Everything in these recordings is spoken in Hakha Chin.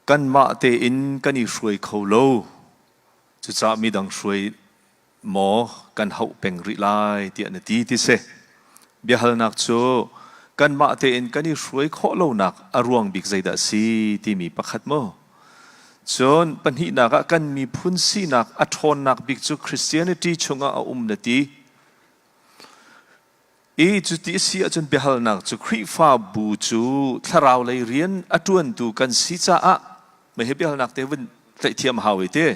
Kanmah tein kan i hruai kho lo. Cucah midang hruai maw kan hauh peng rih lai tiah na ti ti si. Biahalnak cu kanmah tein kan i hruai khawh lonak a ruang bik zeidah si timi pakhat maw? Cun pahnihnak ah kan miphun sinak a ṭhawnnak bik cu Christianity chungah a um na ti. I cuti a si ahcun biahalnak cu Khrihfabu cu thlarau lei rian a ṭuantu kan si caah maihi biahalnak te vun tlaih hau i ti.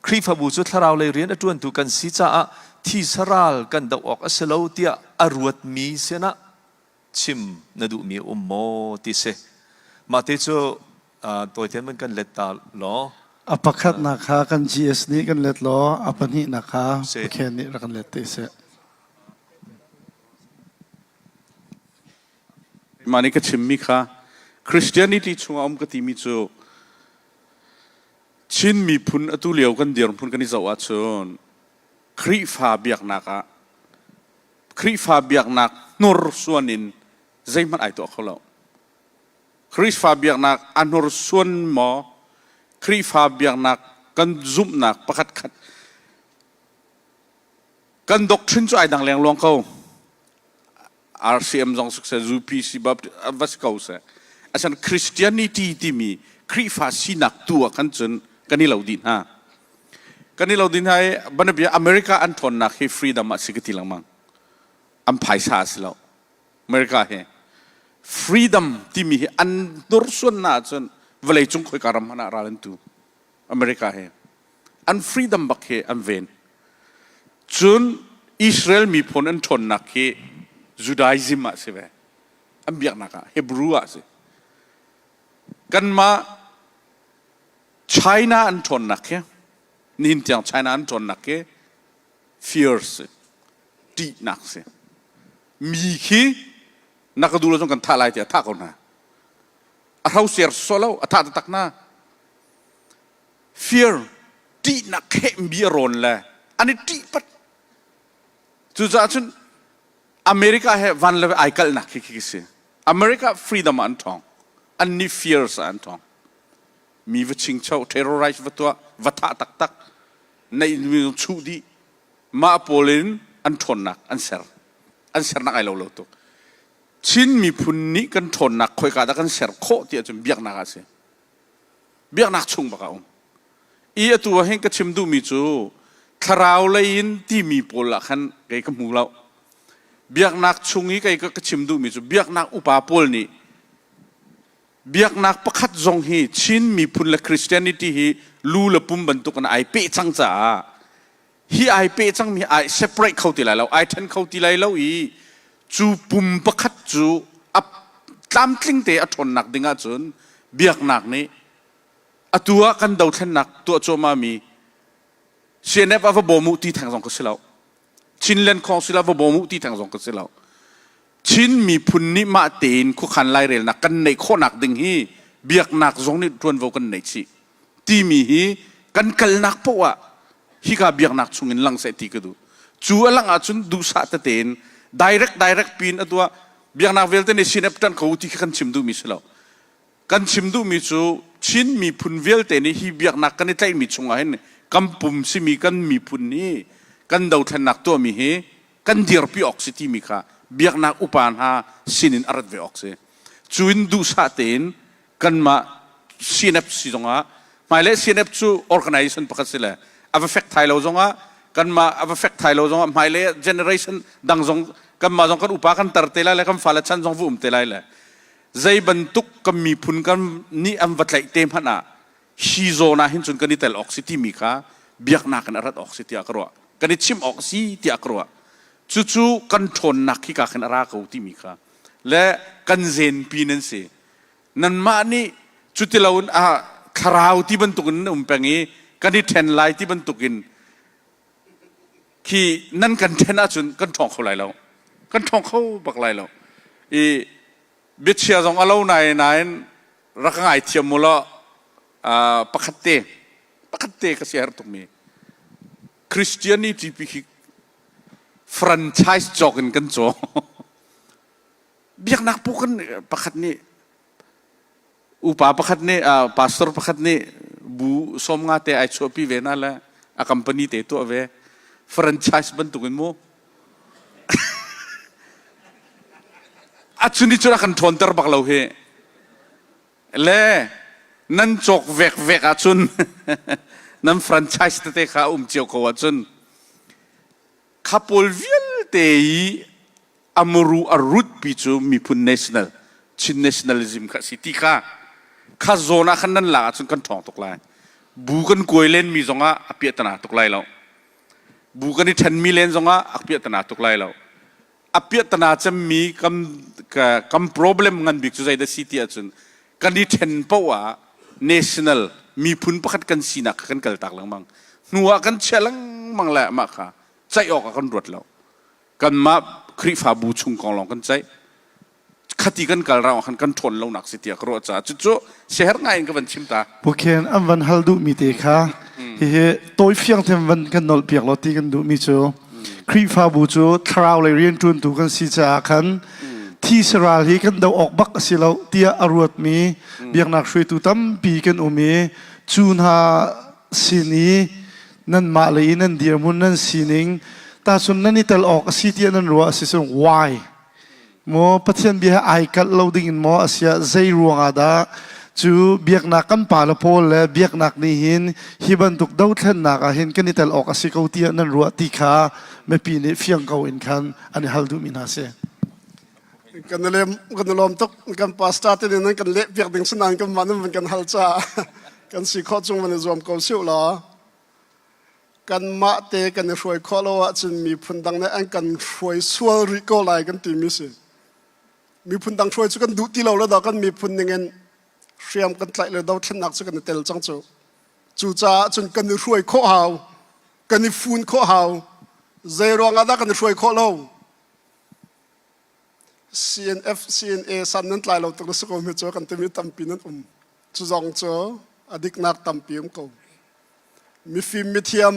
Khrihfabu cu thlarau lei rian a ṭuantu kan si caah thisa ral kan doh awk a si lo tiah a ruatmi sinah chim na duhmi a um maw ti si. Mah ti cu Tawithian kan let ta law a pakhatnak kha kan GS nih kan let law a pahnihnak kha Pathian nih rak kan let te seh Mah nih ka chimmi kha Christianity chungah um ka timi cu Chin miphun atu lio kan dirhmun kan i zoh ahcun Khrihfa biaknak ah Khrihfa biaknak hnursuan in zeihmanh ai tuah kho lo Khrihfa biaknak a hnursuan maw? Khrihfa biaknak kan zumhnak pakhatkhat kan doctrine cu ai dang lengluang ko. RCM zong suk se, UPC va si ko seh. Asan Christianity timi Khrihfa sinak tu ah kan cun kan i lo dih hna. Kan i lo dih hna i banabia America an ṭhawnnak hi freedom ah si ka ti lengmang. An phaisa a si lo. America hi freedom timi hi an hnursuannak ahcun vawleicung khoika ram hmanh ah ral an tu America hi an freedom bak hi an ven cun Israel miphun an ṭhawnnak hi Judaism ah si ve an biaknak ah Hebrew ah si kanmah China an ṭhawnnak hi nihin tiang China an ṭhawnnak hi fear si ṭihnak si mi khi na ka duh lo cun kan thah lai tiah a thah ko hna a hro sersual lo a thah taktak hna fear ṭihnak khehmi a rawn le an i ṭih pat cucaah cun America he van le ai kalnak khi khi si America freedom ah an ṭhawng an ni fears ah an ṭhawng mi va chingcho terrorize va tuah va thah taktak neih chuh dih mah pawl in an ṭhawnnak an ser an sernak ai lo lo tuk Chin miphun nih kan ṭhawnnak khoika dah kan ser khawh ti ahcun biaknak ah a si biaknak chung bak a um i atu ah hin ka chim duhmi cu thlarau lei in timi pawl ah khan kei ka hmu lo biaknak chung i kei ka chim duhmi cu biaknak upa pawl nih biaknak pakhat zong hi Chin miphun le Christianity hi lu le pum bantuk in ai peh cang caah hi ai peh cangmi ai separate kho ti lai lo ai ṭhen kho ti lai lo i cu pum pakhat cu a tlamtling te a ṭhawnnak ding ahcun biaknak nih atu ah kan dothlennak tuah cuahmahmi CNF a va bawm uh ti theng zong ka si lo Chinland khawng si lo va bawm uh ti theng zong ka si lo. Chin miphun nih mah tein khuakhan lairelnak kan neih khawhnak ding hi biaknak zong nih ṭuanvo kan nei chih timi hi kan kalnak paoh ah hika biaknak chungin lang seh ti ka duh. Cu a lang ahcun duhsah tete in direct direct pin a tuah biaknak vialte nih CNF ṭan ko ti khi kan chim duhmi si lo. kan chim duhmi cu Chin miphun vialte nih hi biaknak kan i tlaihmi chungah hin kan pum simi kan miphun nih kan dothlennak tuahmi hi kan dirpi awk si timi kha biaknak upa hna sinin a rat ve awk si. Cu in duhsah tein kanmah CNF si zongah hmailei CNF cu organization pakhat si le a va fek thai lo zongah kanmah a va fek thai lo zongah hmailei ah generation dang zong kanmah zong kan upa kan tar te lai le kan fale chan zong va um te lai le zei bantuk kan miphun kan nih an va tlaih te hmanh ah hi zawn ah hin cun kan i tel awk si timi kha biaknak in a rat awk si tiah ka ruah kan i chimh awk si tiah ka ruah cucu kan ṭhawnnak khi ka khin a ra ko timi kha le kan zenpi nan si nanmah nih cuti loin a thlarau ti bantukin na um peng i kan i ṭhen lai ti bantukin khi nan kan ṭhen ahcun kan ṭhawng kho lai lo kan ṭhawng kho bak lai lo i biachia zong a lo nain nain rak ngaithiam mu law pakhat te pakhat te ka si herh tukmi christianity pi khi franchise cawk in kan caw biaknak pu kan pakhat nih upa pakhat nih pastor pakhat nih bu som nga te ai chuahpi ve na le a company te tuah ve franchise bantuk in mu a chuni cu kan ṭhawn ter bak lo hi le nan cawk vek vek ah cun nan franchise tete kha um cio ko ah cun kha pawl vialte i a muru a rutpi cu miphun national, Chin nationalism kha a si ti kha kha zawn ah khan nan lak ahcun kan ṭhawng tuk lai. Bu kan kuai lenmi zongah a piahtana tuk lai lo. Bu kan i ṭhenmi len zongah a piahtana tuk lai lo. A piahtana cemmi kan, kan problem ngan bik cu zeidah si ti ahcun kan i ṭhen paoh ah national, miphun pakhat kan sinak kha kan kal tak lengmang. Hnu ah kan chiah lengmang lai amah kha ceih awk ah kan ruat lo. kanmah Khrihfabu chung kong lawng kan ceih. Khati kan kal rang ah khan kan ṭhawn lonak si tiah ka ruah caah cucu siaherh ngai in ka van chim ta. Bukhen an van hal duhmi te kha hihi tawifiang them van kan nolh piak law ti kan duhmi cu Khrihfabu cu thlarau lei rianṭuantu kan si caah khan thi saral hi kan doh awk bak a si lo tiah a ruatmi biaknak hruaitu tampi kan um i cu hna sin i nanmah lei i nan dirhmun nan sining tahcun nan i tel awk a si tiah nan ruah a si cun why maw pathian bia ai kalh lo ding in maw a sia zei ruang ah dah cu biaknak kan pa le paul le biaknak nih hin hi bantuk dothlennak ah hin kan i tel awk a si ko tiah nan ruah ti kha mipi nih fiang ko in khan an i hal duhmi hna si kan kan lawm tuk kan pastor te nan kan leh piak ding sinan kan man nan kan hal cha kan si kho chung man zuam ko siu la kan ma te kan i hruai kho lo ah cun mi phun dang ne an kan hruai sual ri ko lai kan ti mi si mi phun dang hruai chu kan duh ti lo lo da kan mi phun ning in hriam kan tlai le do thlen nak chu kan tel chang chu cu cha cun kan i hruai kho hau kan i fun kho hau zei ruang ah dah kan i hruai kho lo CNF, CNA san nan tlai lo tuk na si ko mi cu kan timi tampi nan um. Cu zong cu a diknak tampi um ko. Mifim mithiam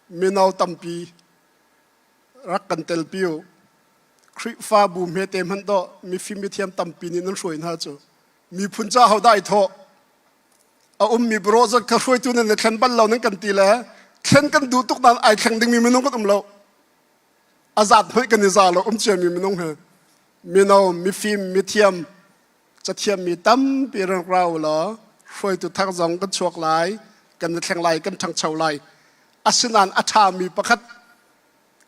mino tampi rak kan tel pi u. Khrihfabu hmete hman do mifim mithiam tampi nih nan hruai hna cu. Miphun ca ho dai thaw a um mi bro zot kha hruaitu nan na thlen bal lo nan kan ti le thlen kan du tuk dan ai thleng ding mi minung kan um lo azat hoi kan za lo um ciami minung he mino mifim mithiam cathiam mi tampi rang rau lo hruaitu thak zong kan chuak lai kan thleng lai kan ṭhangcho lai asinan a ṭha mi pakhat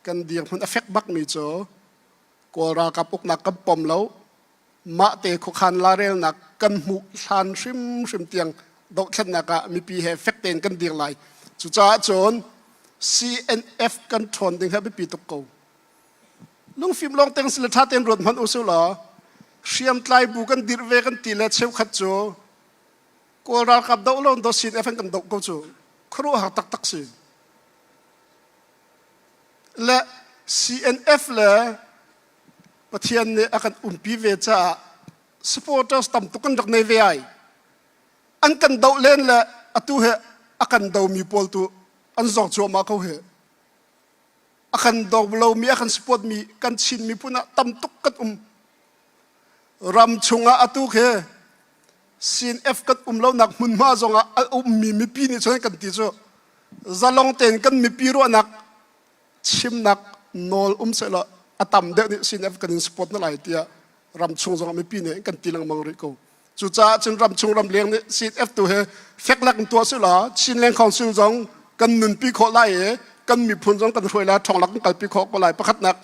kan dirhmun a fek bak mi cu kawl ralkap uknak kan pom lo mahte khuakhan larelnak kan hmuh hlan hrimhrim tiang dohthlennak ah mipi he fek tein kan dir lai cucaah cun CNF kan ṭhawn ding hi biapi tuk ko lungfim lawng teng si le ṭha tein ruat hmanh usih law hriamtlai bu kan dirh ve kan ti le cheukhat cu kawl ralkap doh lo do CNF an kan doh ko cu khuaruah har taktak si le CNF le Pathian nih a kan umpi ve caah supporters tam tuk an rak nei ve ai. An kan doh len le atu he a kan domi pawl tu an zong cuahmah ko he. A kan dog lomi, a kan supportmi, kan chinmi phun ah tam tuk kan um. Ram chungah atu khe Sin F kan um lonak hmunhma zongah a ummi mipi nih cun kan ti cu zalong tein kan mipi ruahnak chimnak nawl um sehlaw a tam deuh nih CNF kan in support na lai tiah ramchung zong mipi nih kan ti lengmang rih ko cucaah cun ramchung ramleng nih CNF tu he feklak in tuah sehlaw Chin Leng Council zong kan nunpi khawh lai i kan miphun zong kan hruai lai thonglak in kalpi khawh ko lai pakhatnak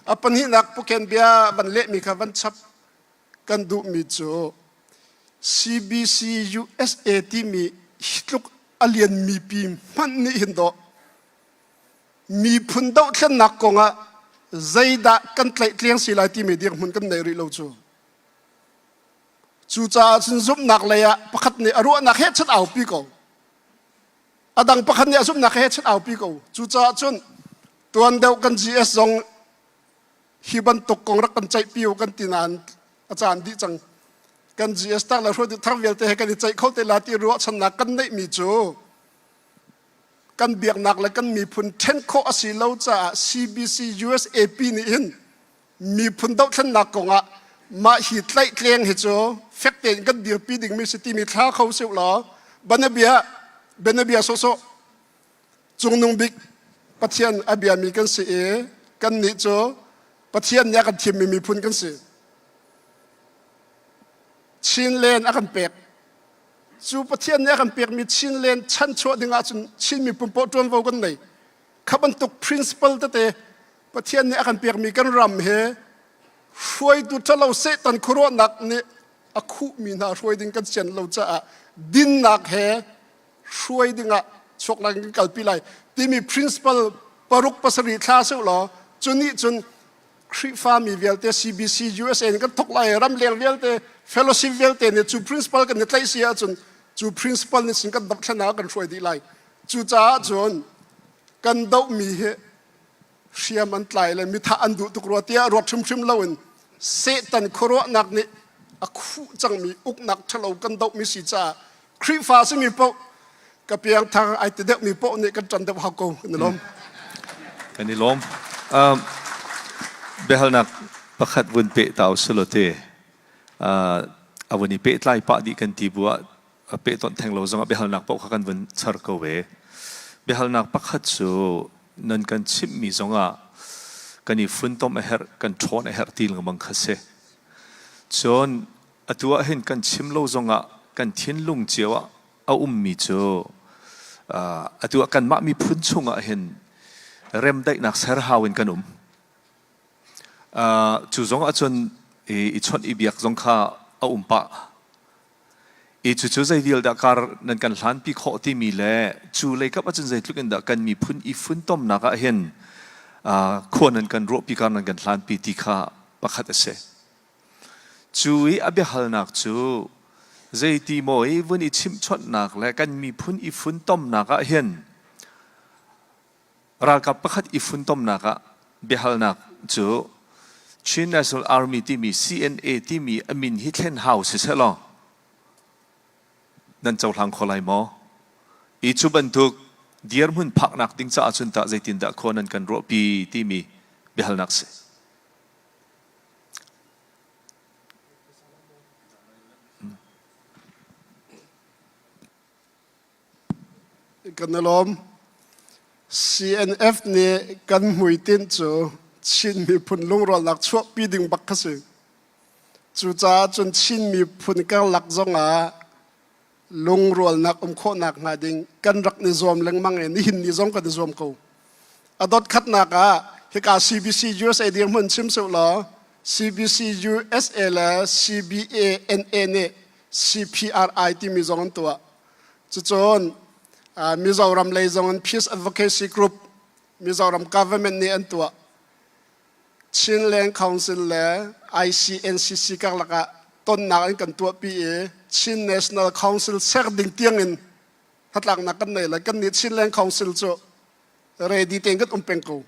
a pahnihnak puken bia van lehmi kha van chap kan duhmi cu CBC USA timi hi tluk a lianmi pi hmanh nih hin doh miphun dohthlennak kongah zeidah kan tlehtliang si lai timi dirhmun kan nei rih lo cu cucaah cun zumhnak lei ah pakhat nih a ruahnak he chan aupi ko a dang pakhat nih a zumhnak he chan aupi ko cucaah cun tuan deuh kan GS zong hi bantuk kong rak kan ceih pio kan ti nain a caan dih cang kan GS tak le hruai thar vialte he kan i ceih kho te la ti ruahchannak kan neihmi cu kan biaknak le kan miphun ṭhen khawh a si lo caah CBC USAP nih hin miphun dohthlennak kongah mah hi tlaihtleng hi cu fek tein kan dirpi dingmi si timi thla kho si law banabia banabia sawsawh cungnung bik pathian a biami kan si i kannih cu pathian nih a kan thimmi miphun kan si chin len a kan pek cu Pathian nih a kan pekmi Chin len chanchuah ding ahcun Chin miphun paoh ṭuanvo kan nei. Kha bantuk principle tete Pathian nih a kan pekmi kan ram he hruaitu ṭhalo Satan khuaruahnak nih a khuhmi hna hruai ding kan sian lo caah dinnak he hruai dingah chuak lai kan kalpi lai timi principle paruk pasarih thla seh law cu nih cun Khrihfami vialte CBC USA in kan thok lai ram leng vialte fellowship vialte nih cu principle kan i tlaih si ahcun cu principle nih sin kan dohthlennak kan hruai dih lai cucaah cun kan dohmi hi hriam an tlai le mithah an duh tuk rua tiah ruak hrimhrim loin Satan khuaruahnak nih a khuh cangmi uknak ṭhalo kan dohmi si caah Khrihfa simi paoh ka piangthang ai te deuhmi paoh nih kan ṭan deuh hau ko kan i lawm. Kan i lawm. Um, biahalnak pakhat vun peh ta u si law ti. Uh, a vun i pehtlai pah dih kan ti bu ah peh tonh theng lo zongah biahalnak paoh kha kan vun char ko ve. Biahalnak pakhat cu nan kan chimhmi zongah kan i funtom a herh, kan ṭhawn a herh ti lengmang kha si. Cun Atu ah hin kan chim lo zongah kan thinlung cio ah a ummi cu atu ah kanmah miphun chungah hin remdaihnak serhau in kan um. cu zongah cun i chawnh i biak zong kha a um pah. I cucu zei vial dah kar nan kan hlanpi khawh timi le cu lei kap ahcun zeitluk in dah kan miphun i funtomnak ah hin khua nan kan ruahpi kar nan kan hlanpi ti kha pakhat a si. Cu i a biahalnak cu zeiti maw i vun i chimhchawnhnak le kan miphun i funtomnak ah hin ralkap pakhat i funtomnak ah biahalnak cu Chin National Army timi CNA timi a min hi thlen hau sisehlaw nan cohlang kho lai maw? I cu bantuk dirhmun phaknak ding caah cun tah zeitindah khua nan kan ruahpi timi biahalnak si. CNF nih kan hmuitinh cu Chin miphun lungrawlnak chuahpi ding bak a si. Cucaah cun Chin miphun karlak zongah lungrualnak um khawhnak hnga ding kan rak ni zuam lengmang e nihin ni zong kan i zuam ko a dotkhatnak ah hika CBC USA dir mun sim su law CBC USA le CBA nih CPRI timi zong an tuah cucun Mizoram lei zong an peace advocacy group Mizoram government nih an tuah Chin Leng Council le ICNCC karlak ah tonnak in kan tuahpi i Chin National Council ser ding tiangin hnatlaknak kan nei lai. Kan nih Chin Leng Council cu ready tein kan um peng ko.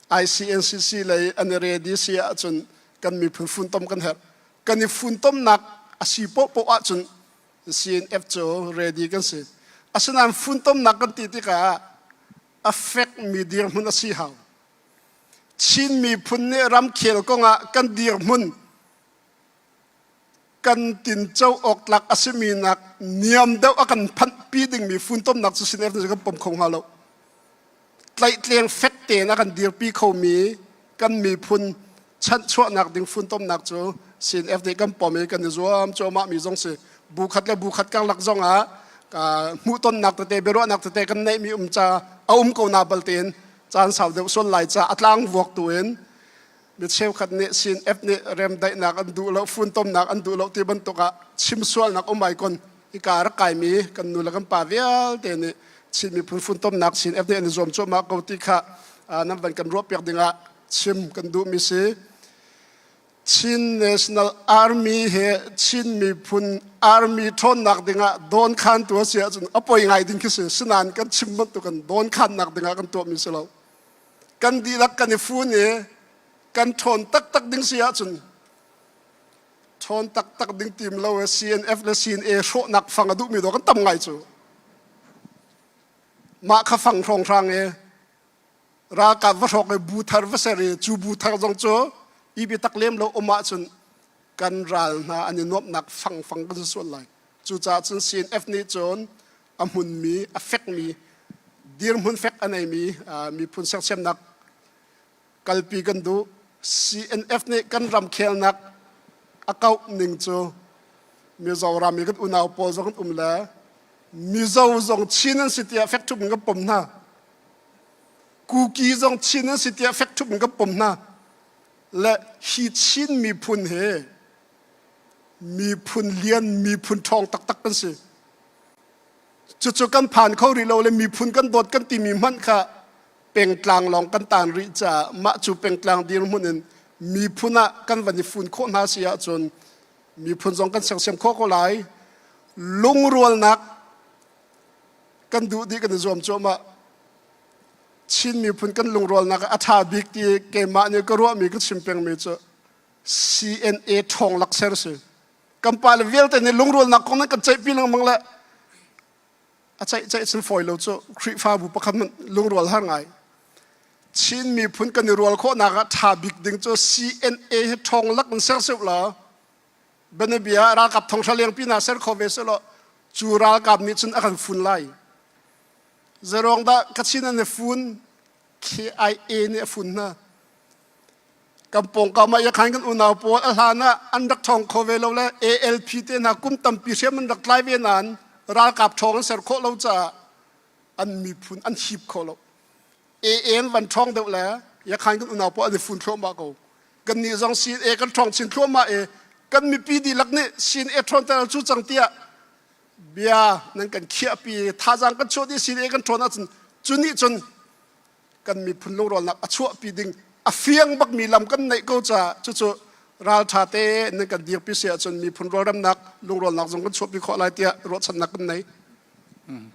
ICNCC lei an i ready si ahcun kan miphun funtom kan herh. Kan i funtomnak a si pohpoh ahcun CNF cu ready kan si. Asinain funtomnak kan ti tikah a fekmi dirhmun a si hau. Chin miphun nih ramkhel kong ah kan dirhmun kan tinco awk tlak a simi nak niam deuh a kan phanhpi dingmi funtomnak cu siner kan pom kho hnga lo. Tlaihtleng fek tein a kan dirpi khomi kan miphun chanhchuahnak ding funtomnak cu CNF nih kan pom i kan i zuam cuahmah mi zong si bu khat le bu khat karlak zong ah hmuhtonnak tete biaruahnak tete kan neihmi um ca a um ko na bal tein caan sau deuh sual lai ca a tlang vuak tu in mi cheukhat nih sin F nih remdaihnak an duh lo funtomnak an duh lo ti bantuk ah chimsualnak um ai kon i ka rak kai mi kan nu le kan pa vialte nih Chinmi phun funtomnak sin F nih an i zuam cuahmah ko ti kha nan van kan ruah piak ding ah chim kan duh mi si Chin National Army he Chin miphun army ṭhawnnak dingah dawnkhantu a si ahcun a poi ngai ding khi si. Sinain kan chim bantuk in dawnkhannak dingah kan tuahmi si lo. Kan dihlak kan i fun i kan ṭhawn taktak ding si ahcun ṭhawn taktak ding tim lo i CNF le CNA hrawhnak fang a duhmi dawh kan tam ngai cu. Mah kha fang hrawnghrang i ralkap va hrawk i bu thar va ser i cu bu thar zong cu i biatak lem lo um ahcun kan ral hna an i nuamhnak fangfang kan si sual lai cucaah cun CNF nih cun a hmunmi a fekmi dirhmun fek a neimi miphun sersiamnak kalpi kan duh CNF nih kan ramkhelnak a kauh ning cu Mizoram i kan unau pawl zong an um le Mizo zong Chin an si tiah fekṭhup in kan pom hna Kuki zong Chin an si tiah fek thup in kan pom hna. Le hi Chin miphun he miphun lian, miphun ṭhawng taktak kan si. Cucu kan phan kho rih lo le miphun kan dawt kan timi hmanh kha pengtlang lawng kan tan rih caah mah cu pengtlang dirhmun in miphun ah kan van i fun khawh hna si ahcun miphun zong kan sersiam khawh ko lai. Lungrualnak kan duh dih kan i zuam cuahmah Chin miphun kan lungrualnak a ṭha bik ti keimah nih ka ruahmi ka chim pengmi cu CNA ṭhawng lakser si kan pa le vialte nih lungrualnak kong nan kan ceihpi lengmang le a ceih ceih sin fawi lo cu Khrihfabu pakhat lungrual har ngai Chin miphun kan i rual khawhnak ah ṭha bik ding cu CNA hi ṭhawng lak in ser seh law Banabia ralkap thonghra lengpi na ser kho ve selaw cu ralkap nih cun a kan fun lai. Zarong dah kachin an fun KIA nih a fun hna. Kan pawngkam ah yakhan kan unau pawl a hlan ah an rak thong kho ve lo le ALP te hna kum tampi hriam an rak tlai ve nan ralkap thong an ser khawh lo caah an miphun an hip kho lo. EN van ṭhawng deuh le yakhain kan unau pawl an i fun thluahmah ko kan nih zong sin e kan ṭhawng chin thluahmah e kan mipi dihlak nih sin e ṭhawnter cu cang tiah bia nan kan khiahpi thazaang kan chuah dih sin e kan ṭhawn ahcun cu nih cun kan miphun lungrolnak a chuahpi ding a fiang bakmi lam kan neih ko caah cucu ralṭha te nan kan dirpi si ahcun miphun rawlremnak lungrolnak zong kan chuahpi khawh lai tiah ruahchannak kan nei.